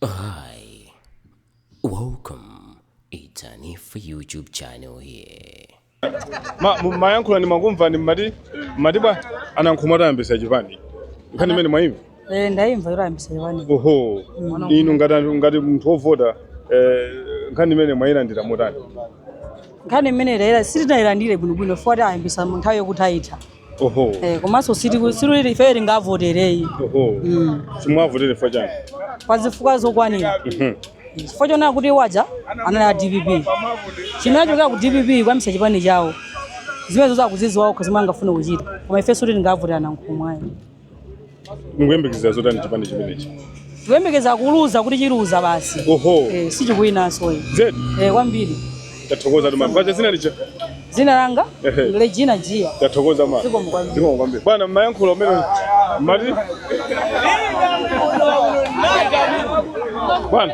Hi, welcome. It's Hanifa YouTube channel here. Ma- mu- mayankhula ndimakumvani mmati mmati bwa anankhumwa atayambisa chipani nkhani imene mwaimva Eh, ndaimva yoti ayambisa chipani oho inu ngati anthu- ngati munthu wovota eh, nkhani imene mwayilandira motani nkhani imene tayira sitinayilandire bwinobwino poti ayambisa mu nthawi yokuthaitha Oho. Eh, komanso sitiku- sikuti ife tingavotere ayi Oho. Mm. Simuwavotera chifukwa chani? pa zifukwa zokwanira Mhm. chifukwa chonena kuti waja anali a dpp chimene anachokera ku dpp kuyambisa chipani chawo zimenezo akuziziwa okha zimene angafune kuchita koma ife sikuti tingavotere a nankhumwa ayi mukuyembekezera zotani chipani chimenechi tikuyembekeza kuluza kuti chiluza basi oho eh, sichikuwinanso ayi zedi eh, kwambiri tathokozatu mama paja zina lija dzina langa Ehe. Regina Jia tathokoza mama Zikomo kwambiri. Zikomo kwambiri bwana mmayankhula umene mati bwana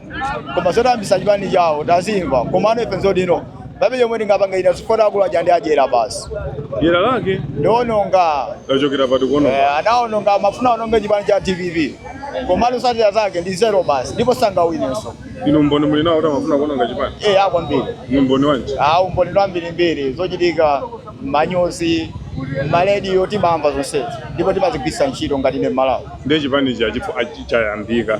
koma zoti ayambisa chipani chawo tazimva komano ife nzodino palibe chomwe ndingapange nazo poti akulu aja ndi adyera basi Dyera lake ndiononga lachokera pati kuona. eh, anaononga amafuna aononge chipani cha dpp komano zotsatira zake ndi zero basi ndipo sangawinenso Inu umboni muli nawo kuti amafuna kuononga chipani. eh, kwambiri Ndi umboni wanji? ah umboni wambirimbiri zochitika manyuzi malediyo timamva zonsezi ndipo timazigwirisa ntchito ngati ine mmalawi Ndiye chipani cha chifu achi- chayambika.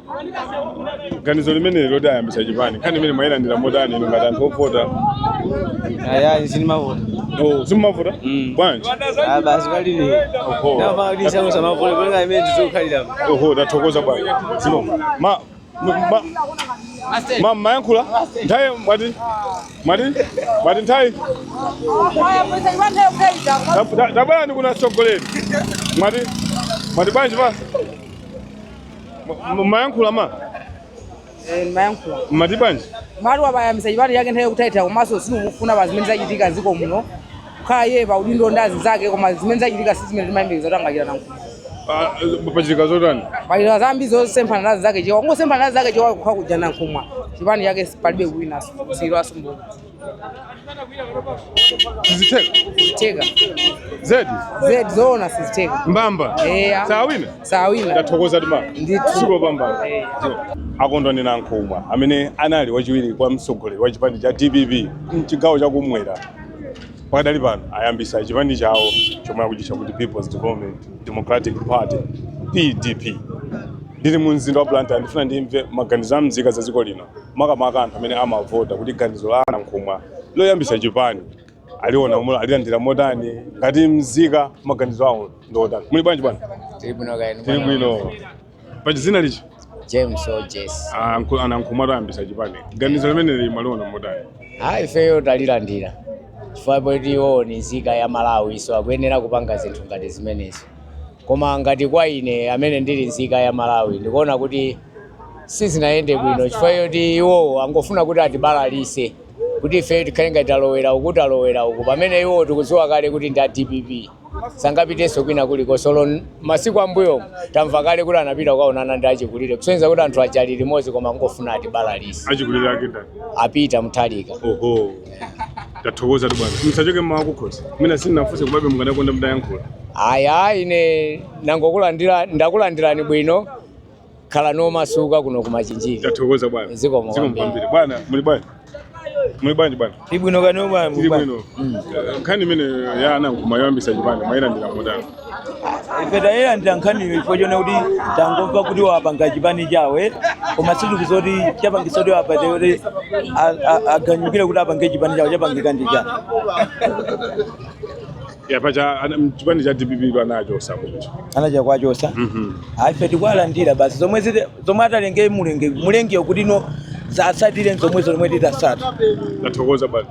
ganizo limeneli loti ayambisa chipani nkhani imene mwayilandira motani inu ngati anthu ovota ayayi sindimavota Oh, simumavota Mm. bwanji Ah, basi palili Oho. napakisa musamavote kulenga imene tizokhalira oho tathokoza bwana zikomo ma ma- ma- ma mayankhula nthawi mwati mwati mwati nthawi Tab- ta- tabwerani kuno atsogoleri mwati mwati bwanji pa Mmayankhula ma? Eh, mmayankhula. Mmati bwanji? Mati wayambisa chipani chake nthawi yokuthaitha komanso sitikufuna pa zimene zachitika m'dziko muno. Kukhala iye pa udindo ndi azinzake koma zimene zachitika si zimene timayembekeza kuti angachita nankhumwa. Pachitika zotani? Pachitika zambiri zosemphana ndi azinzake chewa. Kungosemphana ndi azinzake chewa kukhala kuja nankhumwa. Chipani chake palibe kuwinanso. Siyidwanso mbuyo. sizitheka theka zedi zedi zoona sizitheka mbamba Eh, ah. sawina sawina tathokozatu ma Ndithu. siko pambana akondwani nankhumwa amene anali wachiwiri kwa mtsogoleri wa chipani cha dpp mchigawo chakumwera pakadali pano ayambisa chipani chawo chomwe akuchitcha kuti peoples development democratic party pdp ndili mu mzinda wa blantyre ndifuna ndimve maganizo a mzika za dziko lino makamaka anthu amene amavota kuti ganizo la Nankhumwa loyambitsa chipani aliona mo- alilandira motani ngati mzika maganizo awo ndi otani muli bwanji bwana Tili bwino kaya tili bwino paja dzina liti James Ojes. Anku- anankhumwa loyambitsa chipani ganizo limeneli mwaliona motani Ayi ifeyo talilandira. Chifukwa poti iwowo ni nzika ya Malawi so akuyenera kupanga zinthu ngati zimenezo. Koma ngati kwa ine amene ndili nzika ya Malawi ndikuona kuti sizinayende bwino chifukwa choti iwowo angofuna kuti atibalalise kuti ife tikhale ngati talowera uku talowera uku pamene iwowo tikudziwa kale kuti ndi a dpp sangapitenso kwina kulikonse olo n- masiku ammbuyo tamva kale kuti anapita kukaonana ndi achikulire kusonyeza kuti anthu aja ali limodzi koma angofuna atibalalise achikulire ake ndani a Peter Mutharika oho Tathokoza tu bwana. Msachoke muma wa kukhosi. Mwina sinafunse komabe mukadakonda mudayankhula. Ayi ayi ine nangokulandira ndakulandirani bwino khalani omasuka kuno ku Machinjiri. Tathokoza bwana. Zikomo Zikomo kwambiri. kwambiri. Bwana, muli bwanji? Muli bwanji bwana? Tili bwino kaya inu bwana. Tili bwino. Eh, Nkhani imene ya a Nankhumwa yoyambitsa chipani mwayilandira motani. ife tayilandira nkhaniyo chifukwa chona kuti tangomva kuti wapanga chipani chawo eh? koma sitikudziwa kuti chapangitsa kuti wapate kuti a- a- aganyukire kuti apange chipani chawo chapangika ndi chani yapa cha ana- chipani cha dpp anachoka kuti anachita kuwachotsa ife tikuwalandira basi zomwe ziti- zomwe atalenge mulenge mulengeyo kuti no zatsatire zomwe zomwe titatsata tathokoza bwana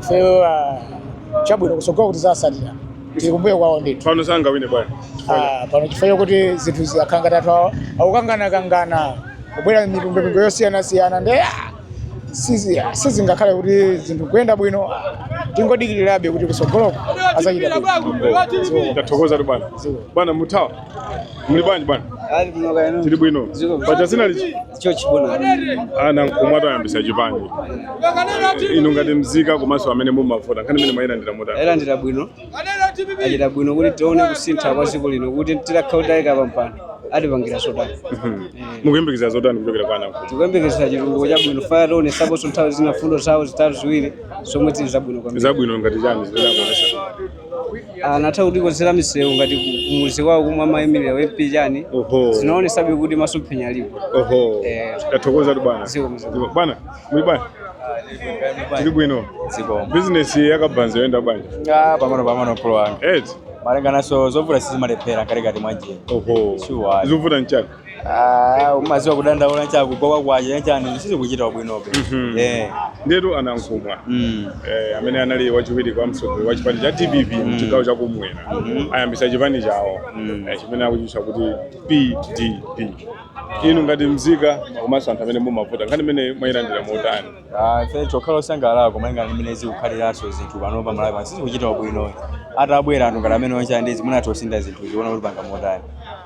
ifeyo ah, chabwino kutsogolo kuti tizatsatira tili kumbuyo kwawo ndithu pano sangawine bwana Ah, pano chifukwa kuti zinthu ziyakhanga tathu awa akukanganakangana kubwera mipingo yosiyanasiyana ndi ah, sizi- ah, sizingakhale kuti zinthu kuyenda bwino ah, tingodikirirabe kuti kutsogoloko azachita bwino ndathokoza tu bwana bwana muthawa muli bwanji bwana tili bwino paja dzina liti George bwana a Nankhumwa atayambitsa chipani inu ngati mzika komanso amene mumavota nkhani imene mwayilandira motani tayilandira bwino achita bwino kuti tione kusintha kwa dziko lino kuti titakhala kuti tawayika pampando atipangira zotani mukuyembekezera zotani kuchokera kwa a Nankhumwa tikuyembekezera chitukuko chabwino pajatu anationetsaponso nthawi zina fundo zawo zitatu ziwiri zomwe zili zabwino kwambiri zabwino ngati chani zimene anakuonetsani anatha kutikonzera misewu ngati ku- kumudzi kwawo kumwe amayimirira u MP chani Oho. zinaonetsabe kuti masomphenya alipo Oho. Eh. Tathokoza tu bwana. Zikomo zikomo. Zikomo. Bwana, muli bwana. Tili bwino. Zikomo. Business ya kabaza ikuyenda bwanji. Ah, pang'ono pang'ono bulo wanga. Eti. Malingananso zovuta sizimalephera pakatikati mwa njira. Oho. Sure. Zovuta nchani. Ah, umaziwa kudandaula chaku kwa kwaje chani sizikuchita bwinobe. Mhm. Eh. Ndetu a Nankhumwa. Mm. Eh, amene anali wachiwiri kwa mtsogoleri wa chipani cha dpp mchigawo cha kumwera ayambisa chipani chawo eh, chimene akuchitcha kuti pdp inu ngati mzika komanso anthu amene mumavota nkhani imene mwayilandira motani Ah, ife chokhala osangalala malingana ndi mmene zikukhaliranso zinthu pano pa Malawi pano sizikuchita bwino. Atabwera anthu ngati amene onse andizi mwina atosintha zinthu tiona kuti apanga motani.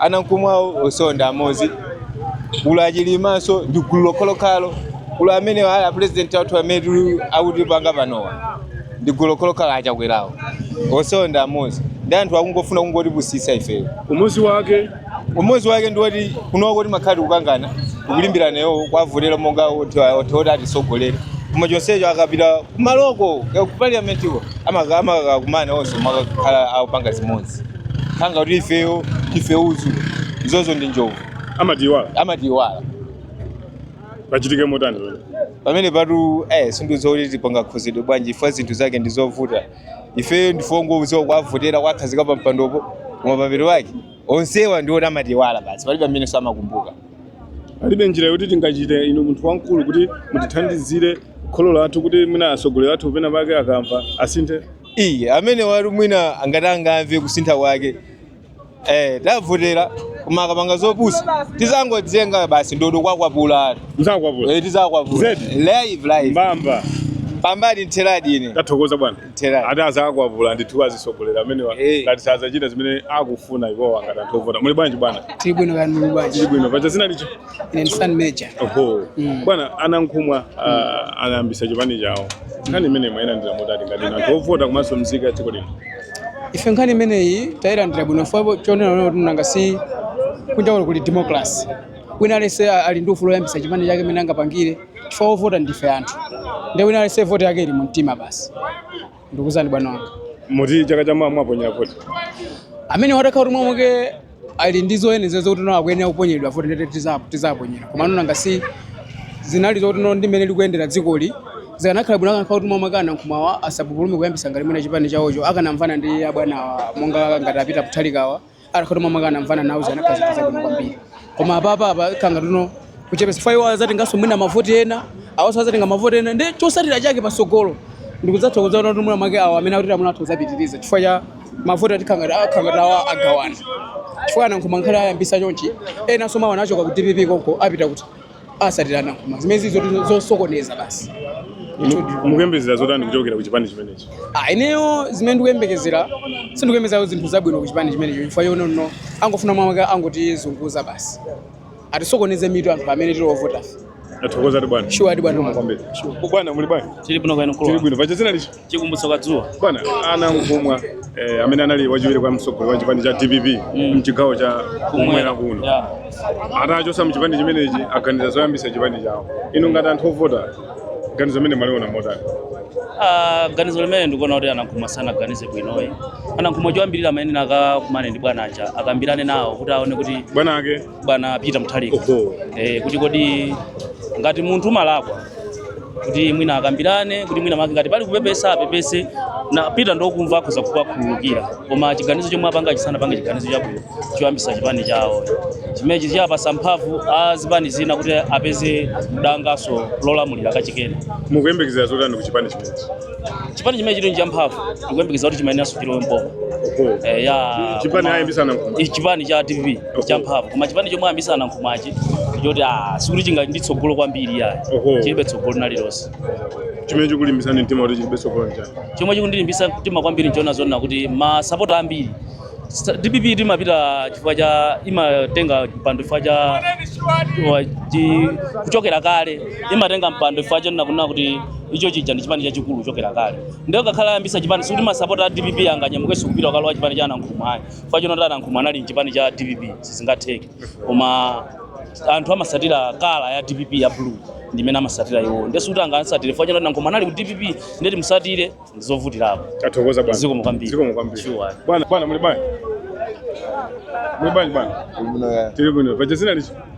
a Nankhumwawo onsewo ndi amodzi kuli a Chilimanso ndi gulu lokhalokhalo kuli amene ali apurezidenti athu amene tili- akutipanga panowa ndi gulu lokhalokhalo a Chakwerawo onsewo ndi amodzi ndi anthu akungofuna kungotipusitsa ifeyo Umodzi wake umodzi wake ndi woti kunoko timakhala tikukangana kulimbirana nawo kuwavotera monga anthu oti atisogolere koma chonsecho akapita kumaloko ku parliamentiko amakakumana onse amakakhala akupanga zimodzi khanga kuti ifeyo ife udzu izozo ndi njovu amatiiwala amatiiwala pachitike motani pamene? pamenepatu eh sindiziwa kuti tipanga khuzidwe bwanji ife zinthu zake ndi zovuta ifeyo ndife ongoziwa kuwavotera kuwakhazika pa mpandopo koma pamero wake onsewa ndi oti amatiiwala basi palibe amene samakumbuka palibe njira yoti tingachite inu munthu wamkulu kuti mutithandizire kholo lathu kuti mwina atsogoleri athu pena pake akamva asinthe iye amene wali mwina ngati angamve kusintha kwake eh tavotera koma akapanga zopusa tizangotenga basi ndodo kuwakwapula Muzakwapula. eh tizakwapula Zedi. live live Mbamba. mbambadi mtheradi ine Tathokoza bwana. Mtheradi. Ati azakwapula ndithu azisogoleri amenewa. Eh. Ngati sazachita zimene akufuna iwowa ngati anthu ovota. Muli bwanji bwana? tili bwino kani muli bwanji Ndili bwino. Paja dzina lija. ine ndi Stan Major. Oho. Mm. Bwana a Nankhumwa ah, anayambisa chipani chawo. Nkhani imene mwayilandira motani ngati inu anthu ovota komanso mzika ya dziko lino. Ife nkhani imeneyi tayilandira bwino chifukwa chonena kuti nanga si kunja kuno kuli democracy. Wina aliyense ali ndi ufulu woyambisa chipani chake mmene angapangire chifukwa ovota ndife anthu. Ndiye wina aliyense voti yake ili mu mtima basi. ndikuuzani bwana wanga muti chaka cha mawa muwaponyera voti amene atakhala kuti mwina mwake ali ndi zoyenereza zokuti no akuyenera kuponyeredwa voti nde tizaponyera komano nanga si zinali zokuti no ndi mmene likuyendera dzikoli zikanakhala bwino akanakhala kuti mwina mwake a Nankhumwawa asapupulume kuyambisa ngati mwina chipani chawocho akanamvana ndi abwanawa monga ngati a Peter Mutharikawa Atakhala kuti mwina mwake anamvana nawo zikanakhala zinthu zabwino kwambiri. Koma apapa apa khala ngati no kuchepesa chifukwa awa azatengaso mwina mavoti ena awaso azatenga mavoti ena nde chosatira chake pasogolo ndikudzatha kudzaona kuti mwina mwake awo amene akuti amuna atha kuzapitiriza chifukwa cha mavoti ati kanga akhala ngati awa agawana chifukwa a Nankhumwa ngakhale ayambisa chonchi enaso omwe anachoka ku dpp konko apita kuti asatira Nankhumwa zimenezi zili zosokoneza basi mukuyembekezera zotani kuchokera ku chipani chimenechi Ah, ineyo zimene ndikuyembekezera sindikuyembekezera zinthu zabwino ku chipani chimenecho chifukwa chonena angofuna mwina make angotizunguza basi atisokoneze mitu anthu amene tili ovota tathokoza bwana shuwa ati bwana kwambiri bwana muli bwanji Tili bwino kaya inu tili bwino paja zina lichi Chikumbutso Kadzuwa. Bwana a Nankhumwa eh, amene anali wachiwiri kwa mtsogoleri wa chipani cha DPP mm. mchigawo cha kumwera kuno yeah. atachosa mchipani chimenechi aganiza zoyambisa chipani chawo inu ngati anthu ovota ganizo limene mwaliona motani? Uh, ganizo limene ndikuona kuti a Nankhumwa sanaganize bwino ayi a Nankhumwa choyambirira amayenera akakumane ndi bwana aja akambirane nawo kuti aone kuti bwana ake bwana Peter Mutharika Oho. eh, kuti kodi ngati munthu umalakwa kuti mwina akambirane kuti mwina make ngati pali kupepesa apepese na Peter ndokumva akhoza kuwakhululukira koma chiganizo chomwe apangachi sanapange chiganizo chabwino choyambisa chipani chawo chimenechi chiwapasa mphamvu a zipani zina kuti apeze dangaso lolamulira kachikena mukuyembekezera zotani ku chipani chimenechi chipani chimene chili nchamphamvu ndikuyembekeza kuti chimayeneranso chilowe mboma Oho. eh, ya chipani koma- ayambisa Nankhumwa Ichi chipani cha DPP champhamvu koma chipani chomwe ayambisa Nankhumwachi choti ah, sikuti chinga ndi tsogolo kwambiri yayi Oho. chilibe tsogolo nalilonse chimene chikulimbisani mtima kuti chilibe tsogolo nchani chomwe chikundilimbisa mtima kwambiri nchoona zonena kuti masapota ambiri a dpp timapita chifukwa cha imatenga mpando chifukwa cha wa- chi- kuchokera kale imatenga mpando chifukwa chonena kunena kuti icho chija ndi chipani chachikulu kuchokera kale ndiyo ngakhale ayambisa chipani sikuti masapota a dpp anganyamukenso kupita ukalowa chipani cha a Nankhumwa ayi chifukwa choti a Nankhumwa anali mchipani cha dpp sizingatheke koma anthu amasatira kala ya dpp ya blue ndimene amasatira iwo nde sikuti angamsatire chifukwa choti a Nankhumwa anali ku dpp nde timusatire ndizovutirapo Tathokoza bwana. zikomo kwambiri Zikomo kwambiri. Sure. Bwana, bwana muli bwanji? Muli bwanji bwana? Tiri bwino. Paja zina lichi?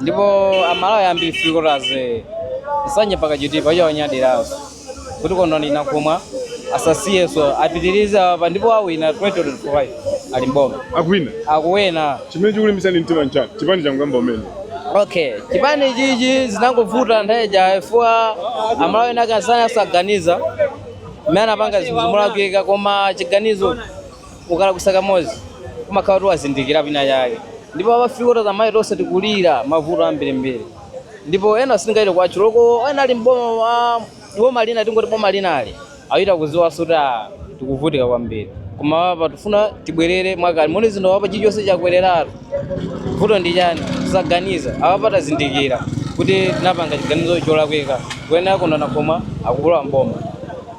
ndipo amalawi ambiri three quarters Nsanje mpaka Chitipa icho anyadiraso kuti Kondwani Nankhumwa asasiyeso apitirize apa ndipo awina 2025 ali mboma akuwina akuwina chimene chikulimbitsani mtima nchani chipani changoyamba kumene okay chipani chichi zinangovuta nthawi ija fukwa amalawi ena akansana asaganiza mmene anapanga zinthuzi molakwika koma chiganizo ukalakwisa kamodzi umakhala kuti wazindikira pina chake ndipo apa afika kuti amayi tonse tikulira mavuto ambirimbiri ndipo ena sitingaite kwacho loko ena ali mboma boma lina tingoti boma linali achita kuziwaso kuti ah, tikuvutika kwambiri koma apa tifuna tibwerere mwakale muone zinthu apa chilichonse chakwereratu vuto ndi chani tisaganiza apapa tazindikira kuti tinapanga chiganizo cholakwika kuyenera Kondwani Nankhumwa akulowa mboma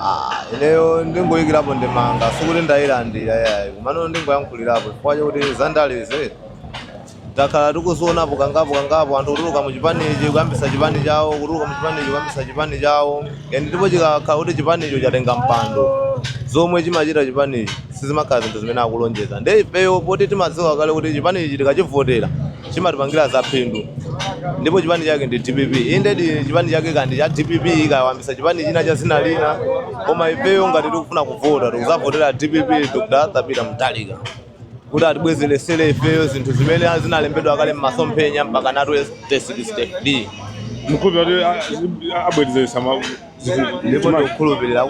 Ah, ineyo ndingoyikirapo ndemanga sikuti ndayilandira yayi komano ndingoyankhulirapo chifukwa chakuti zandalezi takhala tikuzionapo kangapo kangapo anthu kutuluka mu chipanichi kuyambisa chipani chawo kutuluka mu chipanichi kuyambisa chipani chawo ndipo chikakhala kuti chipanicho chatenga mpando zomwe chimachita chipanichi sizimakhala zinthu zimene akulonjeza nde ifeyo poti timadziwa kale kuti chipanichi tikachivotera chimatipangira za phindu ndipo chipani chake ndi dpp indedi chipani chake kandi cha dpp akayambisa chipani china cha zina lina koma ifeyo ngati tikufuna kuvota tikuzavotera dpp dr peter muthalika kuti atibwezeresere ifeyo zinthu zimene zinalembedwa kale m'masomphenya mpaka 2063 kuti abwezeretse ndipo ndikukhulupirira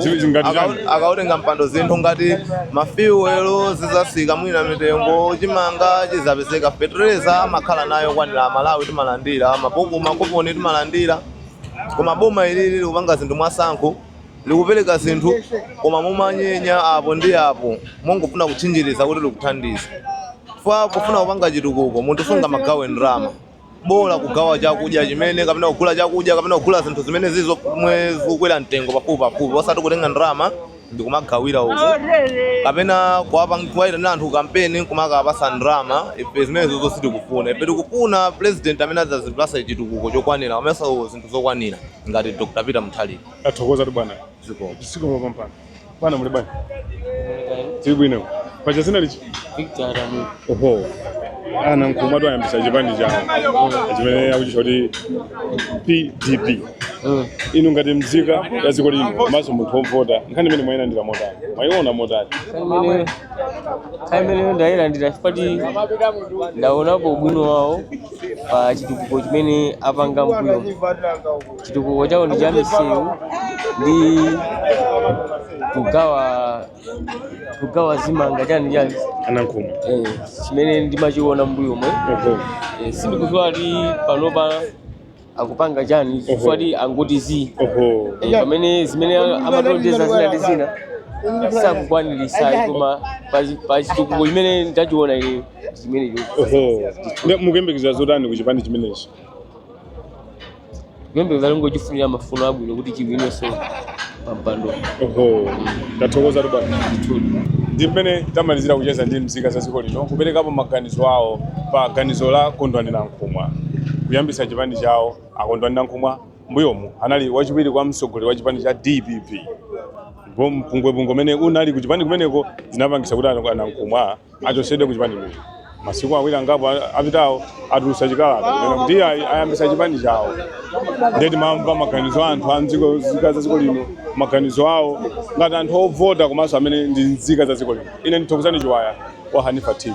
akautenga mpando zinthu ngati mafiwelo zizasika mwina mitengo chimanga chizapezeka fetereza amakhala nayo kwanira amalawi timalandira makuponi timalandira koma boma ili likupanga zinthu mwasankho likupereka zinthu koma momanyenya apo ndi apo mongofuna kutchinjiriza kuti likuthandiza pofuna kupanga chitukuko munthu sungamagawe ndalama bola kugawa chakudya chimene kapena kugula chakudya kapena kugula zinthu zimenezi zomwe zikukwera mtengo pafupi pafupi osati kutenga ndalama ndikumagawira uku kapena kuwapang- kuwayitanira anthu kampeni kumakapasa ndalama ife zimenezizo sitikufuna ife tikufuna president amene adzatipasa chitukuko chokwanira komanso zinthu zokwanira ngati dr peter muthalika tathokozatu bwana zikomo zikomo kwambiri Bwana muli bwanji. Tili bwino. Paja dzina ndani? Victor Adamu. Oho. A Nankhumwatu ayambisa chipani chawo chimene akuchitcha kuti PDP. Mm. Inu ngati mzika ya dziko lino komanso munthu wovota nkhani imeneyi mwayilandira motani? Mwayiona motani? Nkhani imeneyo ndayilandira chifukwa choti ndaonapo ubwino wawo pa chitukuko chimene apanga mbuyomu. Chitukuko chawo ndi cha misewu ndi kugawa kugawa zimanga chani chani anankhumwa eh, chimene ndimachiona mbuyomu oho eh, sindikudziwa kuti panopa akupanga chani chifukwa choti angoti zi oho eh, pamene zimene amatilonjeza zina ndi zina sakukwanirisa koma pa- pa chitukuko chimene ndachiona ine chimenecho oho Nde mukuyembekezera zotani ku chipani chimenechi kuyembekeza ndongochifunira mafuno abwino kuti chiwinenso pampando oho ndathokozatu bwana ndi mmene tamalizira kucheza ndi mzika za dziko lino kuperekapo maganizo awo pa ganizo la kondwani nankhumwa kuyambitsa chipani chawo akondwani nankhumwa mbuyomu anali wachiwiri kwa mtsogoleri wa chipani cha dpp mpungwepungwe umene unali ku chipani kumeneko zinapangitsa kuti anankhumwa achosedwe ku chipani imenechi masiku awiri angapo a- apitawo atulutsa chikalata kunena kuti iye ayi- ayambisa chipani chawo ndiye timamva maganizo a anthu a mdziko nzika za dziko lino maganizo awo ngati anthu ovota komanso amene ndi nzika za dziko lino ine ndi thokozani chiwaya wa hanifa tv